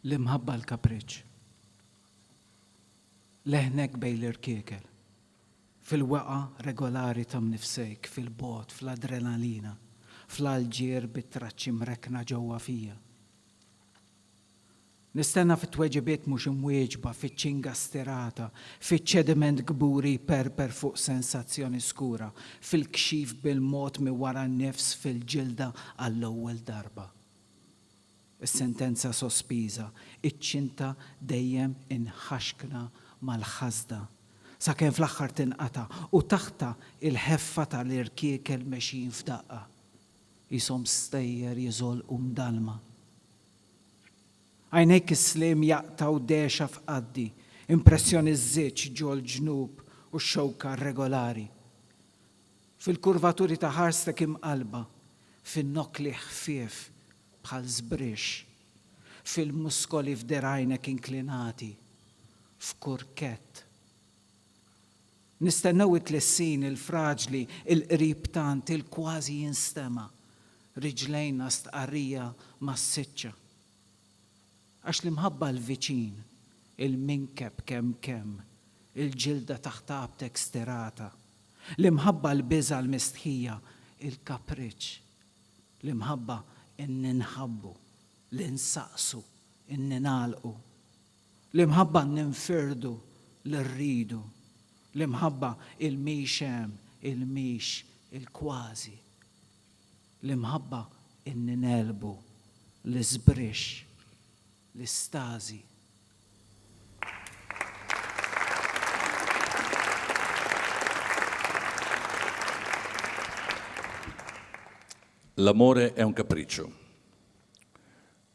L-imħabba l-kapriċċ. Leħnek bejn l-irkiekel. Fil-wegħa regolari ta' mnifsejk, fil-bogħod, fl-adrenalina, fl-għalġier bit-traċċi mrekkna ġewwa fija. Nistenna fit-tweġibiet mhux imwieġba, fiċ-ċinga stirata, fiċ-ċediment kburi jperper fuq sensazzjoni skura, fil-kxif bil-mod minn wara n-nifs fil-ġilda għall-ewwel darba. Is-sentenza sospiża, iċ-ċinta dejjem inħaxkna mal-ħasda, sakemm fl-aħħar tinqata' u taħtha l-ħeffa tal-irkiekel mexjin f'daqqa, qishom stejjer jiżolqu mdallma. Għajnejk is-sliem jaqtgħu dehxa f'qaddi, impressjoni ż-żieġ ġol-ġnub u x-xewka rregolari. Fil-kurvaturi ta' ħarstek imqallba, fin-nokli ħfief bħal żbrixx, fil-muskoli f'dergħajnek inklinati, f'kurkett. Nistennew it-tlissin il-fraġli, il-qrib tant, il-kważi jinstema', riġlejna stqarrija massiċċa. Għax l-imħabba l-viċin, il-minkeb kemm kemm, il-ġilda taħt għabtek stirata, l-imħabba l-biża' l-mistħija, il-kapriċċ, l-imħabba n-ninħabbu, l-insaqsu, n-ningħalqu, L-imħabba ninfirdu li rridu, l-imħabba il-mhix hemm, il-mhix, il-kważi. L-imħabba n-ningħelbu, l-isbrix, l-istażi. L-amore è un capriccio.